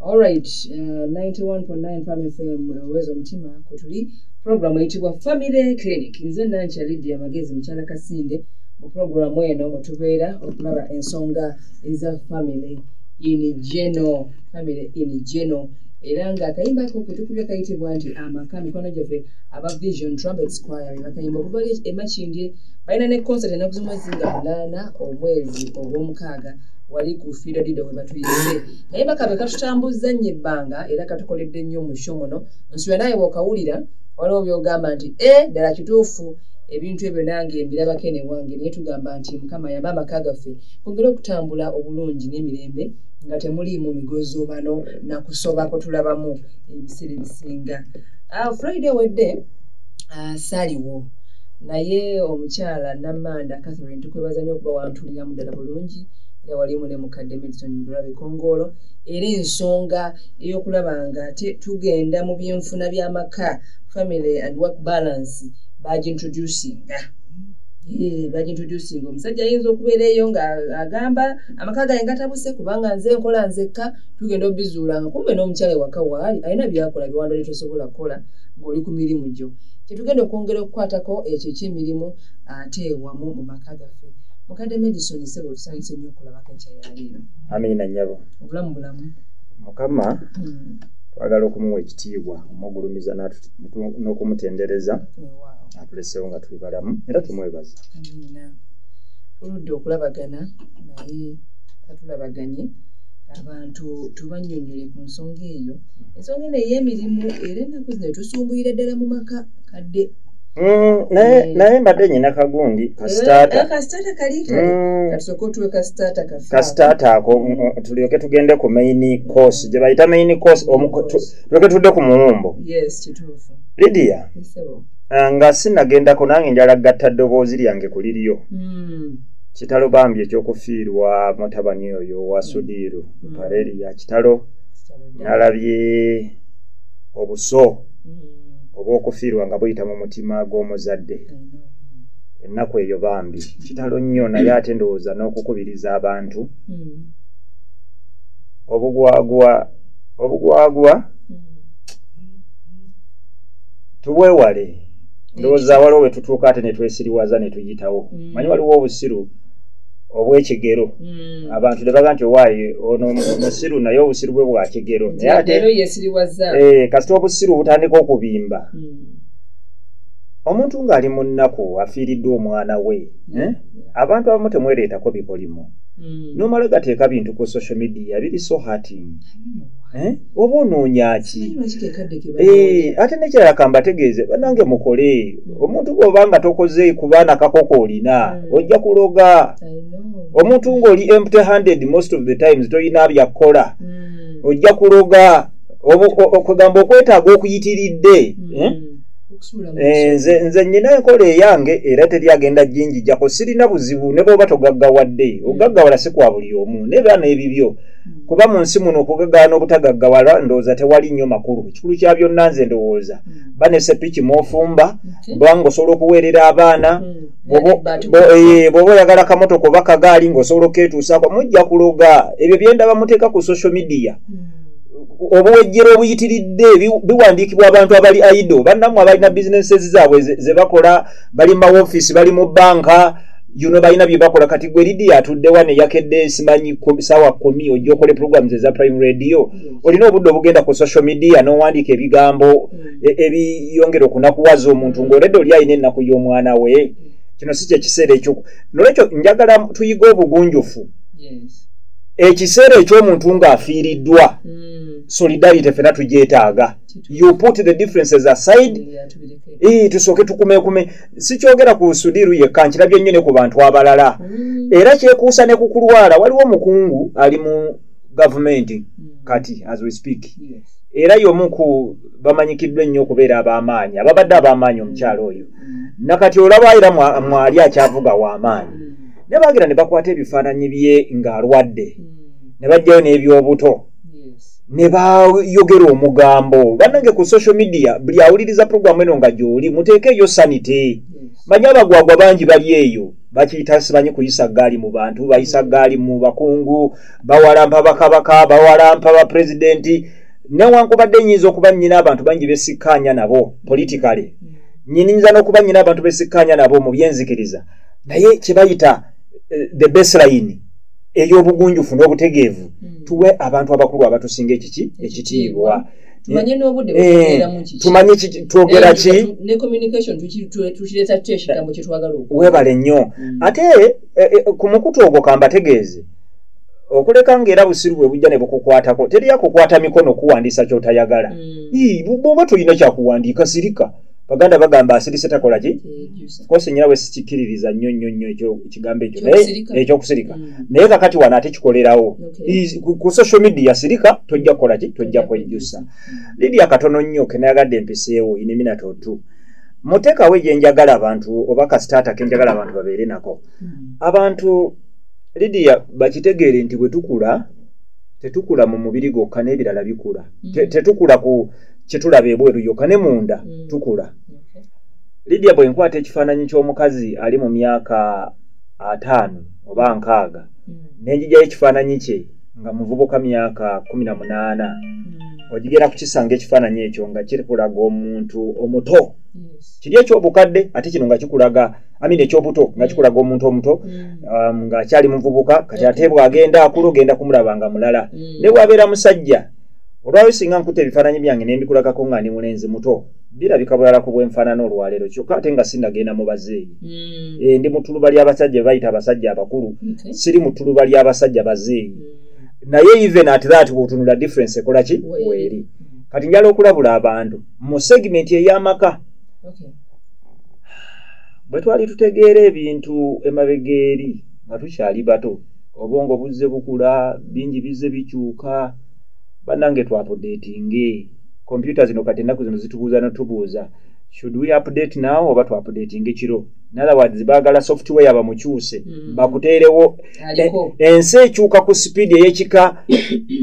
Alright, uh, 91.9 Farm FM uwezo mtima kutuli program eitibwa Family Clinic nze nancha Lydia Magezi mchala Kasinde mu program eno mutubeera okulaba ensonga eza family in general family in general era nga akayimba ako ketukubye kayitibwa nti amaka mikono gyaffe aba vision trumpet squire bebakayimba okubali emakindye balina ne concert enaku zomwezi nga munaana omwezi ogwomukaaga wali ku fiida dida we batuyise naye bakabe katutambuzza nnyo ebbanga era katukoledde nnyo mu sho muno nsula naye wokawulira waliwo byogamba nti e ddala kituufu ebintu ebyo nange mbirabako ene wange naye tugamba nti mukama yamba amaka gaffe kongere okutambula obulungi n'emirembe nga temuliimu migozoobano nakusoba kutulabamu ebiseera ebisinga ah, friday wedde ah, saliwo naye omukyala namanda catherine tukwebaza nyo okuba wantu mpulira muddala bulungi era walimu ne mukadde milton mudula bikongoolo era ensonga ey'okulaba nga tugenda mu byenfuna by'amaka family and work balance bagintroducinga bagintroducinga omusajja ayinza okubeera eyo nga agamba amaka gange gatabuse kubanga nze nkola nzekka tugenda obizuula nga kumbe n'omukyala ewaka waali alina byakola biwandole tosobola kukola ng'oli ku mirimu gyo kyetugenda okwongera okukwatako ekyo ekyemirimu ate wamu mu maka gaffe mukadde medison sebo tusanyuse nnyo okulabako ekyayaliiro amiina nyabo obulamu bulamu mukama hmm. twagala okumuwa ekitiibwa omugulumiza n'okumutendereza atuleseewo nga tuli balamu era tumwebaza tuludde okulabagana naye tatulabaganye abantu tubanyonyole ku nsonga eyo ensonga eno ey'emirimu era ennaku zino tusumbuyira ddala mu maka kadde Mm, naye eh. naye mbadde nyina kagundi kasitaata ako tulyoke tugende ku main course gye bayita main course tulyoke tudde ku muwumbo lidia ah, nga sinagendako nange njala gatta ddoboozi lyange ku liryo hmm. kitalo bambi ekyokufiirwa mutabani oyo wa hmm. sudiiru hmm. pareri ya kitalo nalabye obuso mm. oba okufiirwa nga buyita mu mutima gw'omuzadde ennaku eyo bambi kitalo nnyo naye ate ndowooza n'okukubiriza abantu mm. obugwagwa obugwagwa mm. tubwewale ndowooza waliwo wetutuuka ate netwesiriwaza netuyitawo manyi waliwo obusiru obwekigero hmm. abantu ne baga nti owaaye ono musiru naye obusiru bwe bwa kigero naye ate eh, kasita obusiru butandika okubimba hmm. omuntu ng'ali mu nnaku afiiriddwa omwana we eh? abantu abamu temwereetako bikolimo hmm. nomala gateeka bintu ku social media biri so hating eh? oba onoonyaki eh, ate nekyalakamba tegeeze banange mukole omuntu bwoba nga tokoze kubaana kakoko olina mm. ojja kuloga omuntu ngaoli empty handed most of the times tolina byakukola mm. ojja kuloga okugamba okwetaaga okuyitiridde mm. eh? Eh, nze nze nyina enkola eyange era teri agenda jinjijako sirina buzibu ne bwoba togaggawadde hmm. ogaggawala si kwa buli omu nebaana ebibyo hmm. kuba mu nsi muno okugaggawa n'obutagaggawala ndowooza tewali nnyo makulu ekikulu kya byonna nze ndowooza hmm. banesepiki mwofumba bwanga mm-hmm. osobola okuweerera abaana mm-hmm. eh, bwoba oyagala kamotoka oba kagaali ngaosobola oketuusako mujja kuloga ebyo byendaba muteeka ku social media mm-hmm. obuwejjero obuyitiridde biwandiikibwa abantu abali aido bannamu abalina businesses zaabwe zebakola bali mu mawofiisi bali mu banka yuno balina byebakola kati gwe lidi atuddewa neyakedde simanyi saawa kumi ojja okole programs eza prime radio olina obudde obugenda ku social media n'owandiika ebigambo e, ebiyongera okunakuwaza omuntu ng'oledde oli alina ennaku y'omwana we kino si kyekiseera ekyo nolwekyo njagala tuyige obugunjufu ekiseera eky'omuntu ng'afiiriddwa hmm. solidarity fena tugyetaaga you put the differences aside ee tusooke tukumekume sikyogera ku sudiru yekka nkirabye nnyo ne ku bantu abalala hmm. era kyekuusa ne ku kulwala waliwo omukungu ali mu gavumenti mm. kati as we speak yes. era yomu ku bamanyikiddwa ennyo okubeera ab'amaanyi ababadde ab'amaanyi mm. omukyalo oyo mm. nakati olaba era mwali akyavuga w'amaanyi mm. ne bagira ne bakwata ebifaananyi bye ng'alwadde mm. ne bajjayo n'ebyobuto ne bayogera omugambo bannange ku social media buli awuliriza puroguramu eno nga gy'oli muteekeeyo sanite manya abagwagwa bangi bali eyo bakiyita simanyi kuyisa gaali mu bantu bayisa gaali mu bakungu bawalampa bakabaka bawalampa bapulezidenti newankubadde nyinza okuba nyina abantu bangi besikkaanya nabo politikale nyininyinza n'okuba nyina abantu besikkaanya nabo mu byenzikiriza naye kyebayita eh, the baseline ey'obugunjufu n'obutegeevu hmm. tuwe abantu abakulu abatusinga ekiki ekitiibwa tumanye n'obudde bwetubeeramu kiki tumanye twogera ki ne communication tukireeta tutya ekigambo kye twagala oku weebale nnyo mm. ate e, e, ku mukutu ogwo kambategeeze okuleka ng'era busiru bwe bujja ne bukukwatako teri yakukwata mikono kuwandiisa ky'otayagala mm. bwoba tolina kyakuwandiika sirika baganda bagamba asirise takola ki kosi nyina we sikikiririza nnyo nnyo nnyo ekyo ekigambo ekyo naye ekyokusirika mm. naye kakati wano ate kikolerawo ku social media sirika tojja kukola ki tojja kwejjusa mm. lidia katono nnyo kenayagadde empiseewo ineminatotu muteekawo egyenjagala abantu oba kasitaata kenjagala abantu babeere nako mm. abantu lidia bakitegeere nti bwe tukula tetukula mu mubiri gwokka n'ebirala bikula tetukula ku kyetulaba ebweru yoka ne munda mm. tukula okay. lidia bwe nkwata ekifaananyi ky'omukazi ali mu myaka ataano oba nkaaga mm. nenjijayo ekifaananyi kye nga muvubuka myaka kumi na munaana mm. ogigera kukisanga ekifaananyi ekyo nga kikulaga omuntu omuto yes. kiri ekyobukadde ate kino nga kikulaga amini ekyobuto nga kikulaga omuntu omuto mm. um, ng'akyali muvubuka kati ate bw'agenda akulu ogenda kumulaba nga mulala mm. ne bw'abeera musajja olwayo singa nkuta ebifaananyi byange ne mbikulagako nga ndi mulenzi muto birabika bulala ku bwenfaanana olwaleero kyokka ate nga sinagenda mu bazeeyi hmm. eh, ndi mu tuluba ly'abasajja be bayita abasajja abakulu siri mu tuluba ly'abasajja bazeeyi hmm. naye even at that bwotunula difference ekola ki weeri kati njala okulabula abantu mu segimenti ey'amaka bwe twali tutegeera ebintu emabega eri nga tukyali bato obwongo buzze bukula bingi bizze bikyuka banange twapudetinge kompyuta zino kati ennaku zino zitubuuza notubuuza should we update now oba twapudetinga ekiro inotherwords baagala software bamukyuse mm. bakuteerewo e, ensi ekyuka ku sipiidi eyekika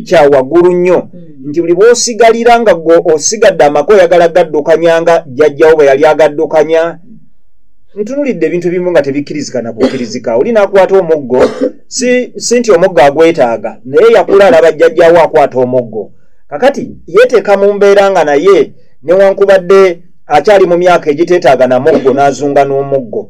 kya waggulu nnyo mm. nti buli bwosigalira nga osigadde amaka oyagala gaddukanya nga jjajjawo bwe yali agaddukanya ntunulidde ebintu ebimu nga tebikkirizika nakukkirizika oli nakwata omuggo si si nti omuggo agwetaaga naye yakula alaba jjajjawo akwata omuggo kakati yeteeka mu mbeera nga naye newankubadde akyali mu myaka egiteetaaga na muggo n'azunga n'omuggo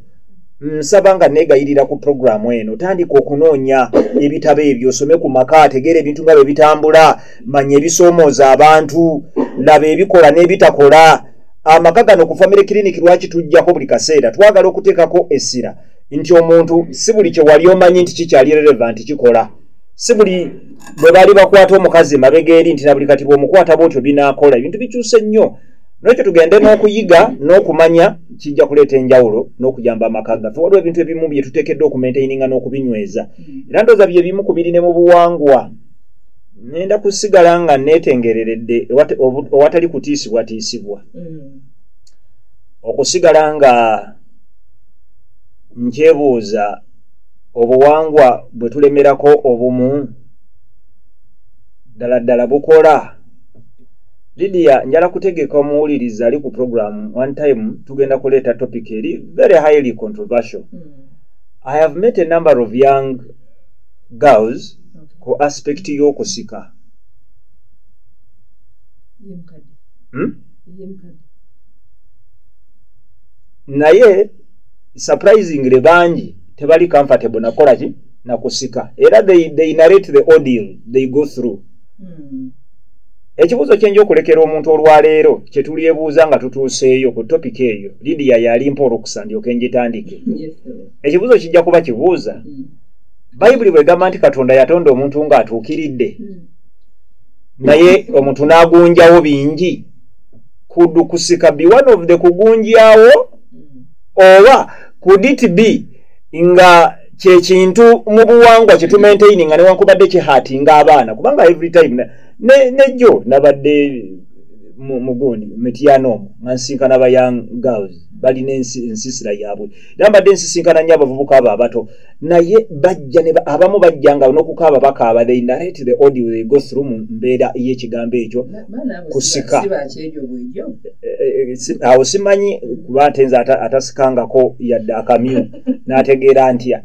nsaba nga negayirira ku puroguramu eno tandika okunoonya ebitabo ebyo osome ku maka ategeera ebintu nga bwe bitambula manya ebisoomooza abantu laba ebikola n'ebitakola amaka gano ku family clinic lwaki tujjako buli kaseera twagala okuteekako essira nti omuntu si buli kyewali omanyi nti kikyali relevant kikola si buli bwe baali bakwata omukazi mabega eri nti nabuli kati bwomukwata bwotyo binakola ebintu bikyuse nnyo nokyo tugende n'okuyiga n'okumanya kijja kuleeta enjawulo n'okuyamba amaka gaffe waliwo ebintu ebimu bye tuteekeddwa okumaintaininga n'okubinyweza era ndooza bye bimu ku biri ne mu buwangwa nenda kusigala nga netengereredde owatali kutiisibwatiisibwa mm. okusigala nga nkyebuuza obuwangwa bwe tulemerako obumu ddala ddala bukola lidia njala kutegeka omuwuliriza ali ku programu one time tugenda kuleeta topic eri very highly controversial mm. i have met a number of young girls ku aspect y'okusika hmm? naye surprisingly bangi tebali comfortable nakola ki nakusika era they, they narrate the audio they go through hmm. ekibuuzo kyenja okulekera omuntu olwaleero kyetulyebuuza nga tutuuseeyo ku topika eyo lidiya yalimpa olukusa ndyoke njitandike ekibuuzo kijja kuba kibuuza hmm. bayibuli bwegamba nti katonda yatonda omuntu nga atuukiridde hmm. naye omuntu n'agunjawo bingi kudu kusika be one of the kugunjawo oba could it be nga kyekintu mu buwangwa kyetumaintaini nga newankubadde kihati nga abaana kubanga every time nejjo ne nabadde mugundi mityana omu nga nsinkana ba young girls balina ensisira yaabwe era mbadde nsisinkana nnyo abavubuka abo abato naye bajja abamu bajja nga nokukaaba bakaaba they narrate the audio they go through mu mbeera y'ekigambo ekyo kusika awo simanyi kuba nte nze atasikangako yadde akamyu n'ategeera ntya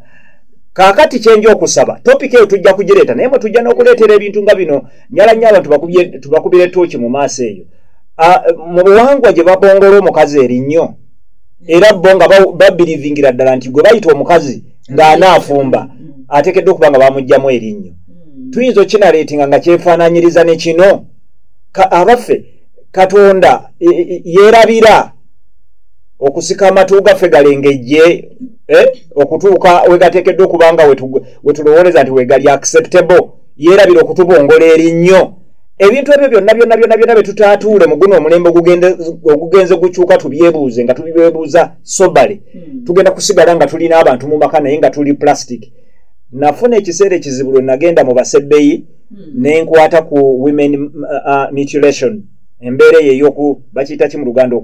kakati kyenja okusaba topika eyo tujja kugireeta naye mwe tujja n'okuleetera ebintu nga bino nyala nnyo abantu tubakubire tooki mu maaso eyo mu buwangwa gye babongola omukazi erinnyo era bo nga babirivingira ddala nti gwe bayita omukazi ng'anaafumba ateekeddwa okuba nga bamugjamu erinnyo hmm. tuyinza okinaleetinga nga kyefaananyiriza ne kino abaffe katonda e, e, e, yeerabira okusika amatu gaffe galengejje eh, okutuuka wegateekeddwa okuba nga wetulowooleza nti wegali acceptable yeerabira okutubongola erinnyo ebintu ebyo byonna byonna byonna byonna byetutaatuule mu guno omulembe ogugenze gukyuka tubyebuuze nga tubibebuuza sobale hmm. tugenda kusigala nga tulina abantu mu maka naye nga tuli plastic nafuna ekiseera ekizibu lwe nagenda mu basebbeyi hmm. nenkwata ku women uh, uh, mutilation embeera eyo eyoku bakiyita ki mu luganda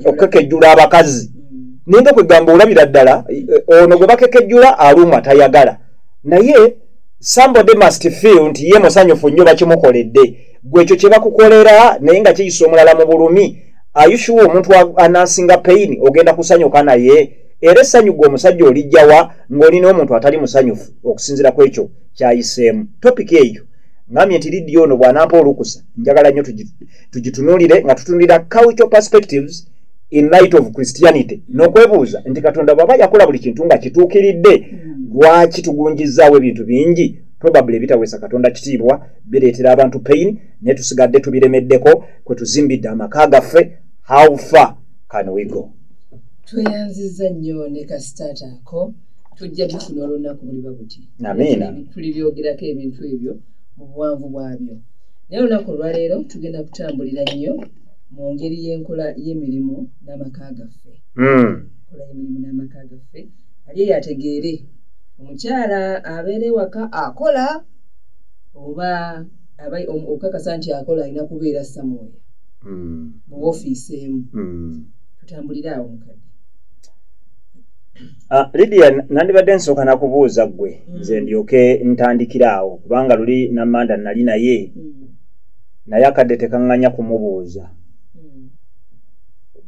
okukekejjula abakazi hmm. ninga kwegamba olabira ddala eh, ono gwe bakekejjula alumwa tayagala naye somebody must feel nti ye musanyufu nnyo bakimukoledde gwe ekyo kye bakukolera naye nga kiyisa omulala mu bulumi ayushuwa omuntu anansinga payini ogenda kusanyuka naye era essanyu gwe omusajja olijjawa ng'olina omuntu atali musanyufu okusinzira ku ekyo kyayiseemu topiki eyo ngambye nti lidiyo ono bw'anampa olukusa njagala nnyo tugitunuulire nga tutunulira cultural perspectives in light of christianity nokwebuuza nti katonda bwaba yakola buli kintu nga kituukiridde lwaki tugunjizaawo ebintu bingi probably ebitaweesa katonda kitiibwa bireetera abantu pain naye tusigadde tubiremeddeko kwe tuzimbidde amaka gaffe how far can we go tweyanziza nnyo ne kasitaata ako tujja tufuna olunaku buliba buti amiina tuli byogerako ebintu ebyo mu buwanvu bwabyo naye olunaku olwaleero tugenda kutambulira nnyo mu ngeri y'enkola y'emirimu n'amaka gaffe hmm. enkola y'emirimu n'amaka gaffe ali yategeere omukyala abeera ewaka akola oba okukakasa nti akola alina kubeera samuwaya hmm. mu ofiisi emu hmm. tutambulire awo mukadde ah, lidia nandibadde nsooka nakubuuza ggwe nze ndyoke ntandikire awo kubanga luli namanda nali naye naye akadde tekaŋŋanya kumubuuza hmm.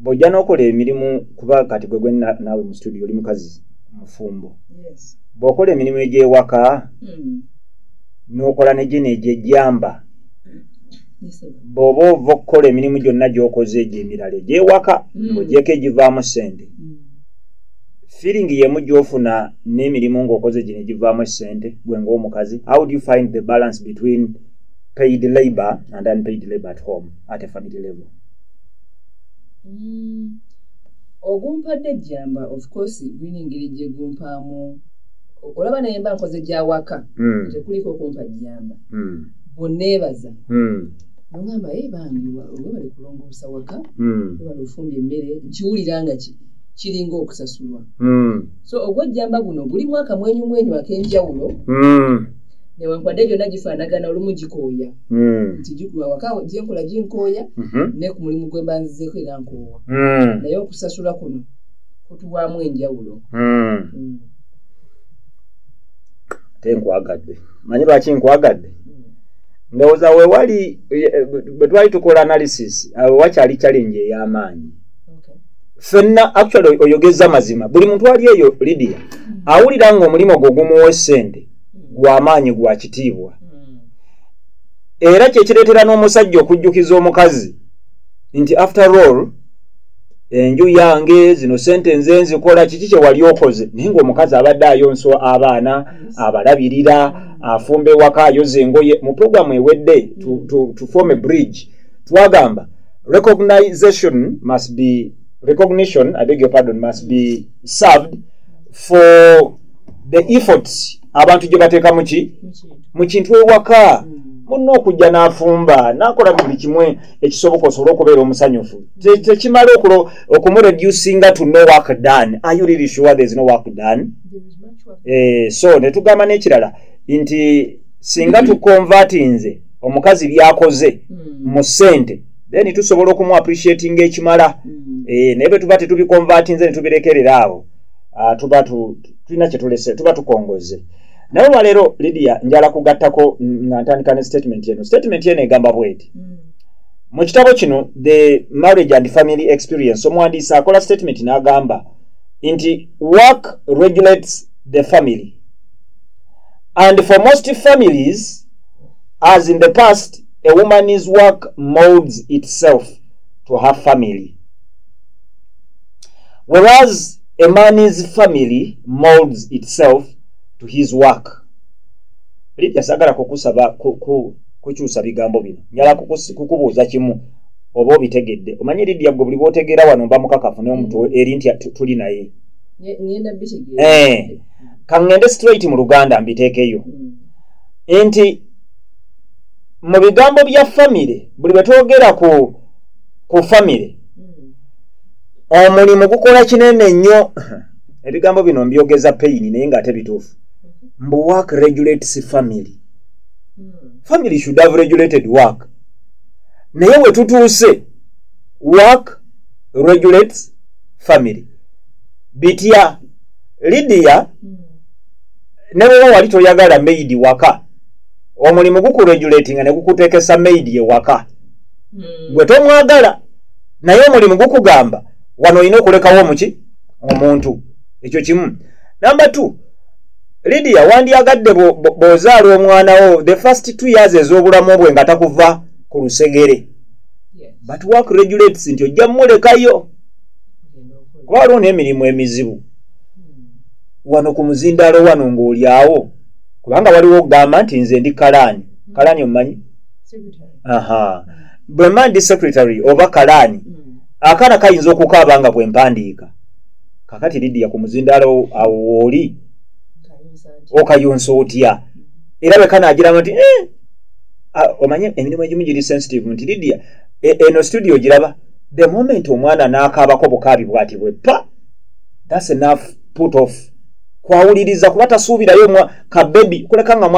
bw'ojja n'okola emirimu kuba kati gwe gwe naawe mu situdio oli mukazi mufumbo bw'okola emirimu egy'ewaka hmm. n'okola negyeno egyejjamba bw'oba ova okukola emirimu gyonna gy'okoze egyo emirala egy'ewaka hmm. ng'ogyeko egivaamu ssente feeling yemu gyofuna n'emirimu ng'okoze gino egivaamu essente gwe ng'omukazi how do you find the balance between paid labor and unpaid labor at home at a family level mm. ogumpadde ejjamba of course gulina engeri gyegumpaamu olaba naye mba nkoze gyawaka mm. tekuliko okumpa jjamba mm. bweneebaza mm. nogamba ye bambi webali kulongoosa waka mm. webali ofumba emmere nkiwulira nga ki kiringa okusasulwa mm. so ogwejjamba guno gulimu akamwenyumwenyu ak'enjawulo mm. newankubadde gyonna gifaanagana olumu gikooya hmm. nti gikula waka gyenkola ginkooya mhm. ne ku mulimu gwe mbanzizeeko era nkoowa hmm. naye okusasula kuno kutuwaamu enjawulo hmm. ate nkwagadde manyi lwaki nkwagadde ndowooza wewali bwe twali tukola analysis awo wakyali challenge ey'amaanyi fenna actually oyogeza mazima buli muntu ali eyo lidia awulira nga omulimu gwo gumuwa esente gwamaanyi gwa kitiibwa hmm. era kyekireetera n'omusajja okujjukiza omukazi nti after all enju yange zino sente nze nzikola kiki kyewali okoze naye ngaomukazi abadde ayonso abaana abalabirira afumba ewaka ayoza engoye mu programu ewedde to, to, to form a bridge twagamba recognization must be recognition i beg your pardon must be served for the efforts abantu gye bateeka muki mu kintu ewaka hmm. munna okujja n'afumba n'akola buli kimu ekisoboka osobole okubeera omusanyufu tekimala okulo okumureducinga to no work done are you really sure there is no work done eh, so ne tugamba n'ekirala nti singa hmm. tukonvatinze omukazi byakoze hmm. mu ssente then tusobola okumu appreciatinga ekimala eh, naye bwe tuba tetubikonvatinze ne tubirekerera awo ah, tuba tulina kyetulese tuba tukongozze naye olwaleero lidia njala kugattako nga ntandika ne statement eno statement eno egamba bweti mm. mu kitabo kino the marriage and family experience omuwandiisi akola statement n'agamba nti work regulates the family and for most families as in the past a woman's work molds itself to her family whereas a man's family molds itself to his work lidya sagala kukusaba kukyusa bigambo bino nyala kukubuuza kimu oba obitegedde omanyi lidya gwe buli bwotegeera wano mba mukakafu naye omuntu eri nti tuli naye eh, kaŋŋende straight mu luganda mbiteekeyo hmm. nti mu bigambo bya famire buli bwe twogera ku famire omulimu gukola kinene nnyo ebigambo bino mbyogeza payini naye ngaate bituufu mbu work regulates family family should have regulated work naye wetutuuse work regulates family bitya lidiya ne bweba wali toyagala maidi waka omulimu gukuregulatinga ne gukutekesa maidi ewaka hmm. gwe tomwagala naye omulimu gukugamba wano olina okulekawo omuki omuntu ekyo kimu namba t lidia wandyagadde bwozaala omwana wo the first two years ez'obulamu bwe nga takuva ku lusegere but work regulates nti ojja mulekayo kuba waliwo n'emirimu emizibu wano ku muzindaalo wano ng'olyawo kubanga waliwo okugamba nti nze ndi kalaani kalaani omumanyi aha bwe mba ndi secretary oba kalaani mm. akaana kayinza okukaaba nga bwe mpandiika kakati lidiya ku muzindaalo awo wooli okayonsa otya era bwe kanaagiramu nti eh, omanye emirimu egimu giri sensitive nti lidiya e, eno studio giraba the moment omwana n'akaabako bukaabi bwati bwe pa thats enough put off kwawuliriza kuba tasuubirayo ka baby kuleka nga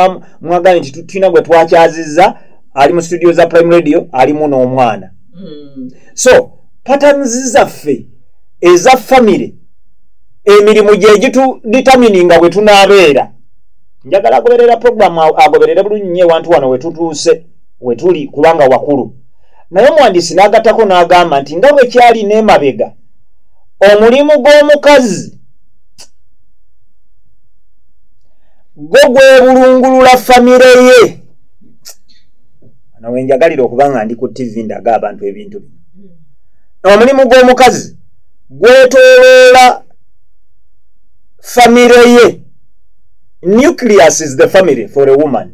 mwagambye nti tulina gwe twakyazizza ali mu studio za prime radio alimu n'omwana hmm. so patterns zaffe eza family emirimu gyegitudetermini nga bwe tunaabeera njagala agoberera programu agoberere bulungi nyo ewantu wano wetutuuse wetuli kubanga wakulu naye omuwandiisi n'agattako n'agamba nti nga bwekyali n'emabega omulimu gw'omukazi gwo gwebulungulula famire ye nawe njagalira okuba nga ndi ku tivi ndaga abantu ebintu bino omulimu gw'omukazi gwetoloola famire ye nucleus is the family for a woman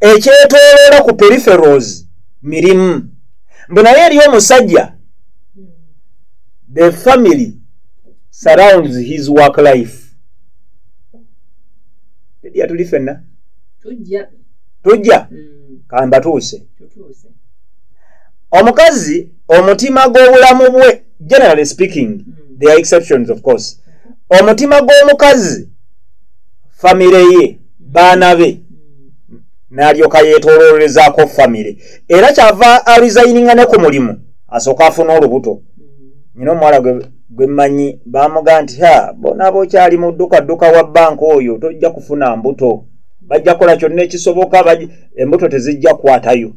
ekyetoloola ku periferals mirimu mbu naye eri omusajja the family surrounds his work life tedya tuli fenna tujja tujja mm. kambatuuse omukazi omutima gw'obulamu bwe generally speaking mm. there are exceptions of course omutima gw'omukazi famire ye baana be n'alyoka yeetooloolezaako famire era kyava alizayininga ne ku mulimu asooka afuna olubuto nyina omuwala gwe mmanyi baamuga nti ha bona bokyali mu ddukadduka wa banka oyo tojja kufuna mbuto bajja kukola kyonna ekisoboka embuto tezijja kukwatayo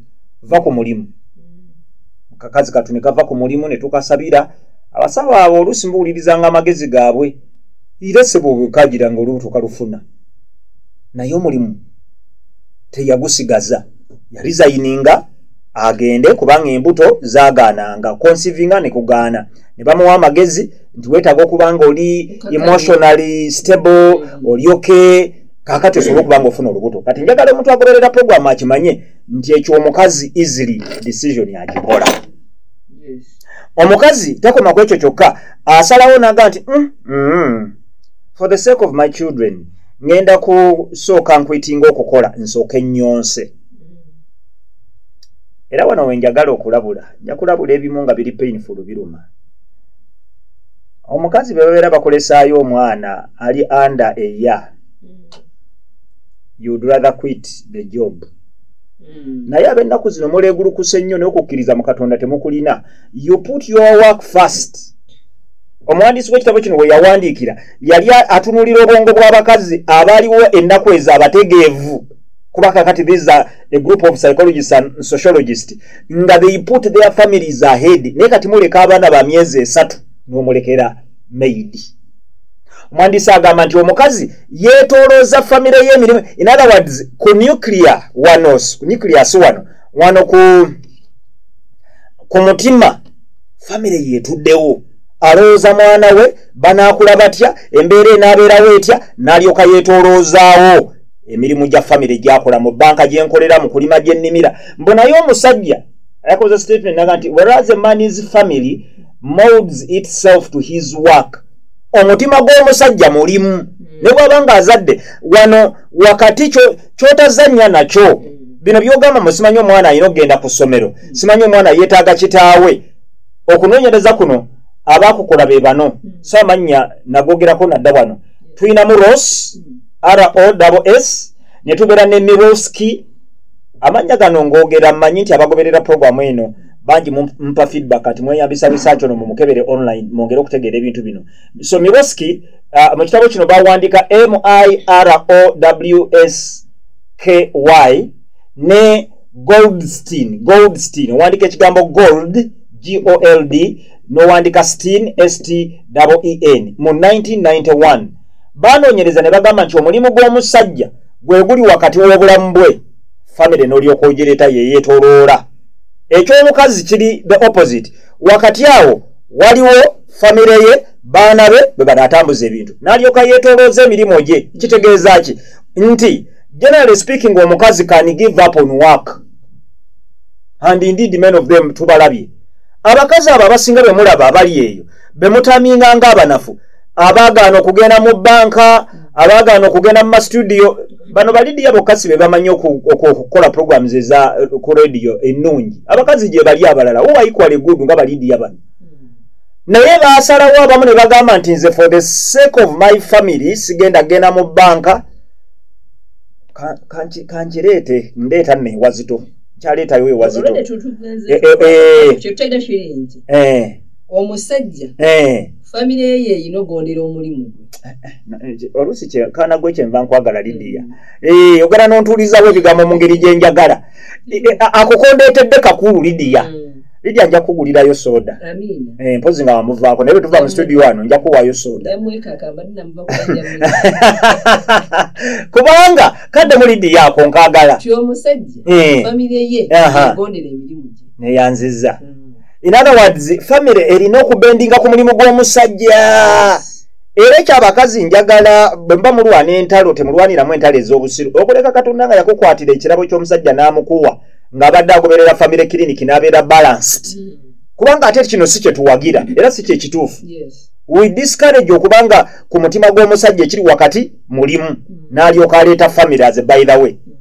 va ku mulimu kakazi katu ne kava ku mulimu ne tukasabira abasawo abo oluusi mbuwulirizanga amagezi gaabwe era sebo bwekagira nga olubuto kalufuna naye omulimu teyagusigaza yalizayininga agende kubanga embuto zagaananga consivinga ne kugaana ne bamuwa amagezi nti weetaaga okuba nga oli emotionally stable mm. oli oke kakati osobola okuba nga ofuna olubuto kati njagala omuntu agoberera programu akimanye nti ekyo omukazi easily decision akikola omukazi takoma ku ekyo kyokka asalawo naga nti mm, mm, for the sake of my children ngenda kusooka nkwitinga okukola nsooke nyonse era wano wenjagala okulabula nja kulabula ebimu nga biri painful biruma omukazi bebabeera bakolesaayo omwana ali under a year you'd rather quit the job hmm. naye abennaku zino muleegulukuse nnyo naye okukkiriza mu katonda temukulina you put your work first omuwandiisi w'ekitabo kino we yawandiikira yali atunulira obwongo bw'abakazi abaaliwo ennaku ezo abategeevu kuba kakati these are a group of psychologists and sociologists nga they put their families ahead naye kati muleka abaana ba myezi esatu nomulekera maid omwandisi agamba nti omukazi yetolooza famire yemirimu in other words ku nuclear wanos ku nuclear si wano wano ku ku mutima famire yetuddewo alowooza mwana we banaakula batya embeera enaabeerawo etya n'alyoka yeetoloozaawo emirimu gya famire gyakola mu banka gyenkolera mu kulima gyennimira mbu naye omusajja ayakoze statement naga nti whereas a man is family molds itself to his work omutima gw'omusajja mulimu hmm. ne bwaba nga azadde wano wakati kyotazannya nakyo hmm. bino byogamba mu simanyi omwana alina okugenda ku ssomero hmm. simanyi omwana yeetaaga kitaawe okunoonyereza kuno abaakukola be bano saamannya nagogerako nadda wano tulinamu ros ros ne tubeera ne miroski amannya gano ng'ogera mmanyi nti abagoberera puroguramu eno bangi mumpa feedback kati mweyambisa research ono mumukebere online mwongere okutegeera ebintu bino so miroski uh, mu kitabo kino bawandiika mirowsky ne goldstein goldstein owandiika ekigambo gold gold nowandika steen steen mu 1991 banoonyereza ne bagamba nti omulimu gw'omusajja gwe guli wakati w'obulamu bwe famire n'olyoka ogireeta yeyeetoloola eky'omukazi kiri the opposite wakati awo waliwo famire ye baana be bwe banaatambuza ebintu n'alyoka yeetolooza emirimu gye kitegeeza ki nti generally speaking omukazi can give up on work and indeed men of them tubalabye abakazi abo abasinga be mulaba abali eyo be mutaminga ng'abanafu abaagaana okugenda mu bbanka abaagaana okugenda mu masitudiyo bano balidiya bokka si be bamanyi okukola programs eza eh, ku rediyo ennungi abakazi gye bali abalala uwaikwale gudu nga balidiya bano naye baasalawo abamu ne bagamba nti nze for the sake of my family sigenda genda mu bbanka kankireete ndeeta newazito kyaleetayo we wazito omusajja famire ye yeyina ogondera omulimu oluusi kaana gwe kyenva nkwagala lidiya mm. ogera nontuulizawo ebigambo mu ngeri gyenjagala akukondeetedde kakulu lidiya mm. lija nja kugulirayo soda eh, mpozi nga wamuvaako naye bwetuva mu studio wano nja kuwaayo soda kubanga kadde muli ddi yako nkagala ti omusajja eh. famire ye agondera emirimu gye neyanziza hmm. in other words famire erina okubendinga ku mulimu gw'omusajja era ekyo abakazi njagala bwe mba mulwana entalo temulwaniramu entalo ez'obusiru okuleka katonda nga yakukwatira ekirabo ky'omusajja n'amukuwa ng'abadde agoberera famire kiriniki n'abeera balanced hmm. kubanga ate kino si kyetuwagira era si kyekituufu we discourage okubanga ku mutima gw'omusajja ekiri wakati mulimu mm. n'alyoka aleeta family as by the way mm.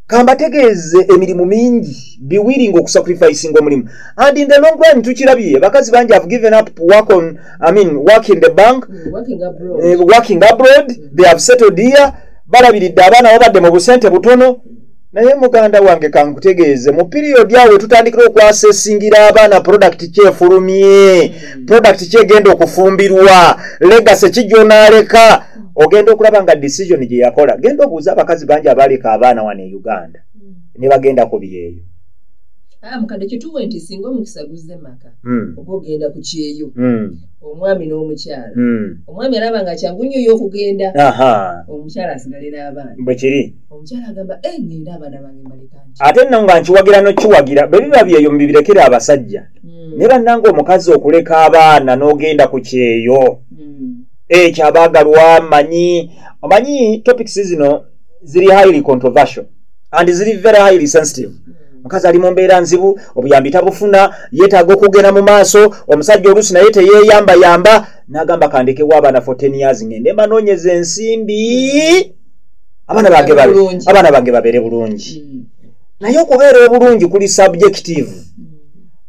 kambategeeze emirimu mingi biwiringa okusacrificing omulimu and in the long run tukirabye bakazi bangi have given up work on i mean work in the bank mm, working abroad, uh, working abroad. Mm. they have settled here balabiridde abaana babadde mu busente butono naye muganda wange kankutegeeze mu piriyodi awo wetutandikira okwasesingira abaana prodakiti kyefulumye mm. prodakiti kyegenda okufumbirwa legase kijonaaleka ogenda okulaba nga decision gye yakola genda obuuza abakazi bangi abaaleka abaana wano e uganda mm. ne bagenda ku byeyo ah, mukadde kituwe nti singa omukisa guzze maka mm. oba ogenda ku kyeyo omwami n'omukyala omwami alaba nga kyangu nnyo yo okugenda omukyala asigale n'abaana bwe kiri ate nno nga nkiwagira nokiwagira bwe biba byeyo mubibirekere abasajja hmm. naye bannanga omukazi okuleka abaana n'ogenda ku kyeyo hmm. ekyo abaagalwa manyi omanyi topics zino ziri highly controversial and ziri very highly sensitive hmm. omukazi ali mu mbeera nzibu obuyambi tabufuna yeetaaga okugenda mu maaso omusajja oluusi naye teyeeyambayamba n'agamba kandekewo abaana 14 years ngende mbanoonyeza ensimbi abaana bange babe Bulungi. abaana bange babeere bulungi Mm. naye okubeera obulungi kuli subjective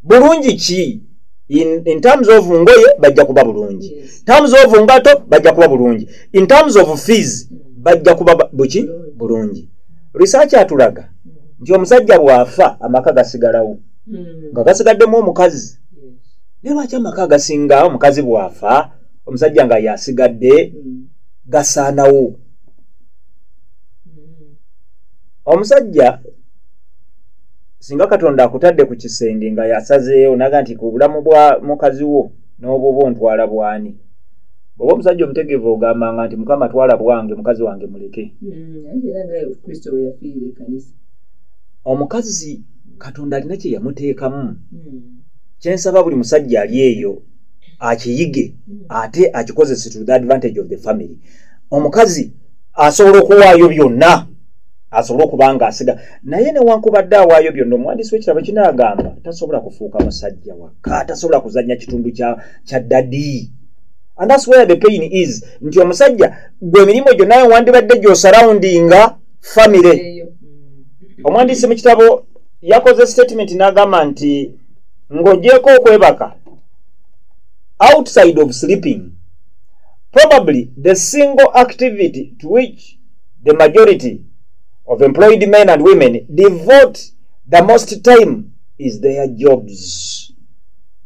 bulungi ki in, in terms of ngoye bajja kuba bulungi Yes. terms of ngato bajja kuba bulungi in terms of fees bajja kuba ba- buki bulungi research atulaga nti omusajja bw'afa amaka gasigalawo Mm. nga gasigaddemu omukazi Yes. naye lwaki amaka agasinga omukazi bw'afa omusajja nga yasigadde mm. gasaanawo mm. omusajja singa katonda akutadde ku kisenge nga yasazeewo naga nti ku bulamu bwa mukazi wo n'obwoba ontwala bwani oba omusajja omutegeevu ogambanga nti mukama twala bwange mukazi wange muleke omukazi katonda alina kye yamuteekamu hmm. kyensaba buli musajja ali eyo akiyige ate akikozese to the advantage of the family omukazi asobola okuwaayo byonna asobole okuba nga asiga naye newankubadde awaayo byonna omuwandiisi wekirabo kinagamba tasobola kufuuka musajja wakka tasobola kuzanya kitundu kya dadi and thats where the pain is nti omusajja gwe emirimu gyo naye wandibadde gyosarawundinga famire omuwandiisi mu kitabo yakoze statement nagamba nti ng'ogyeko okwebaka outside of sleeping. Probably the single activity to which the majority of employed men and women devote the most time is their jobs.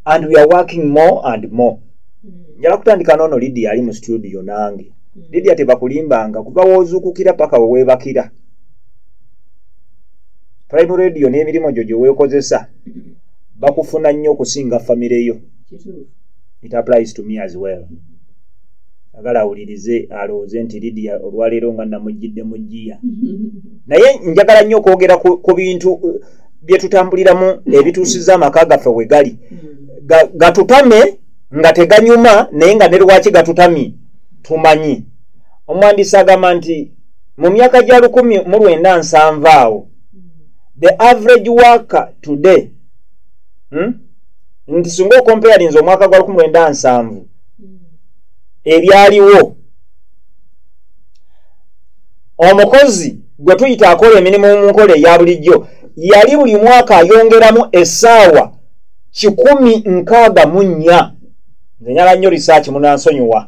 And we are working more and more. Njala kutandika nono Lydia ali mu studio nange. Mm. Lydia tebakulimbanga kuva wozukukira paka wewebakira. Prime Radio n'emirimu gyo gye weekozesa bakufuna nnyo okusinga famire yo it applies to me as well agala awulirize alowooze nti lidia olwaleero nga namujjidde mu jjiya naye njagala nnyo okwogera ku bintu uh, byetutambuliramu ebituusiza amaka gaffe we gali gatutame nga teganyuma naye nga ne lwaki gatutami tumanyi omwandisi agamba nti mu myaka gya lukumi mu lwenda nsanva awo the average worker today hmm? nti singa okompayalinza omwaka gwa 19 ebyaliwo omukozi gwe tuyita akola emirimu mu nkola eya bulijjo yali buli mwaka ayongeramu esaawa kikumi nkaaga mu nnya nze nyala nnyo risaaki munansonyiwa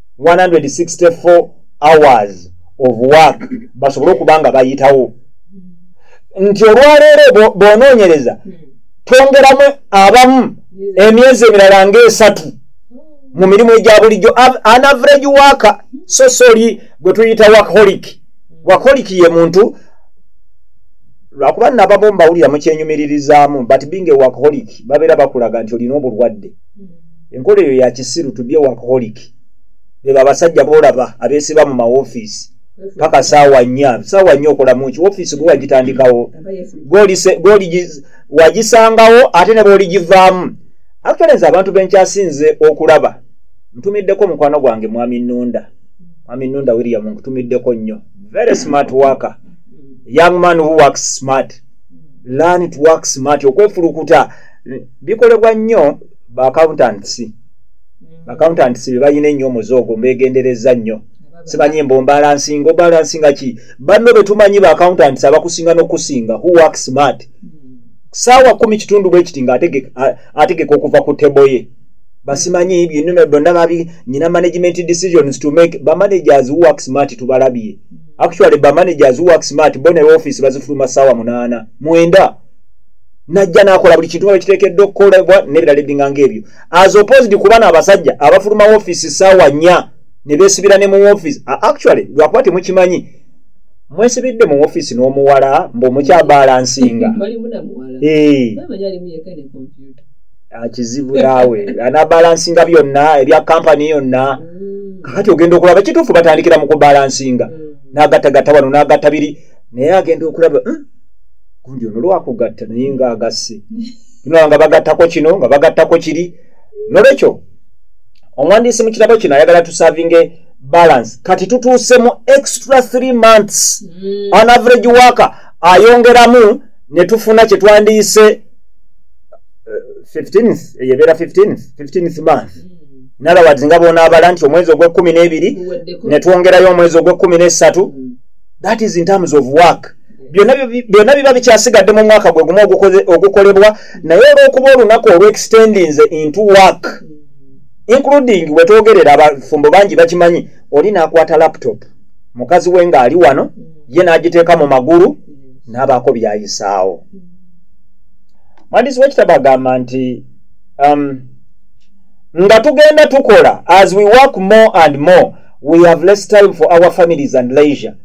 164 hours of work basobole okuba nga bayitawo nti olwaleero bonoonyereza twongeramu abamu emyezi emirala ngaesatu mu mirimu egya bulijjo an average waka so soli gwe tuyita wakolik wakolik ye muntu lwakuba nabamu mbawulira mukyenyumiririzaamu but binga ewakolik babeera bakulaga nti olina obulwadde hmm. enkola eyo yakisiru to be a workaholic beba abasajja bolaba abesiba mu mawofiisi paka saawa nnya saawa nnya okolamu ki wofiisi gwe wagitandikawo wagisangawo ate ne booligivaamu actually nze abantu benkyasinze okulaba ntumiddeko omukwano gwange mwami nunda mwami nunda william nkutumiddeko nnyo very smart worker young man who works smart learn to work smart okwefulukuta bikolebwa nnyo ba accountants mm. accountants be balina ennyo omuze ogwo mbegendereza nnyo simanyi mbu mbalansinga obalansinga ki banno be tumanyi ba accountants abakusinga n'okusinga who work smart mm. saawa kumi kitundu bwe kiti ng'ategeka okuva ku tebo ye basimanyi byenno byonna babi nyina management decisions to make bamanagers who work smart tubalabye mm. actually bamanagers who work smart bo ne office bazifuluma saawa munaana mwenda najja nakola buli kintu nga bwekiteekedde okukolebwa nebirala ebbinga ngaebyo as opposed kuba na abasajja abafuluma wofiisi saawa nya ne besibira ne mu wofiisi actually lwakuba temukimanyi mwesibidde mu wofiisi n'omuwala mbu omukyabalansinga kizibu naawe anabalansinga byonna ebya kampani yonna mm. kakati ogenda okulaba kituufu batandikira mu kubalansinga mm. n'agattagatta wano n'agatta biri naye agenda okulaba hmm? gundi ono lwakugatta naye nga agasse nolaba nga bagattako kino nga bagattako kiri nolwekyo omuwandiisi mu kitabo kino ayagala tusavinge balance kati tutuuse mu extra three months mm. on average waka ayongeramu ne tufuna kye twandiyise 15th eh, eyebeera 15th 15th month mm. nalawadzi nga bonaabala nti omwezi ogw'ekkumi n'ebiri ne twongerayo omwezi ogw'ekkumi n'essatu mm. that is in terms of work byonna biba bikyasigadde mu mwaka gwe gumu ogukolebwa naye olwokuba olunaku olwextendinze into work including wetwogerera abafumbo bangi bakimanyi oli nakwata laptop mukazi we ngaali wano ye nagiteeka mu magulu nabaako byayisaawo mwandiisi wekitabo agamba nti um, nga tugenda tukola as we work more and more we have less time for our families and leisure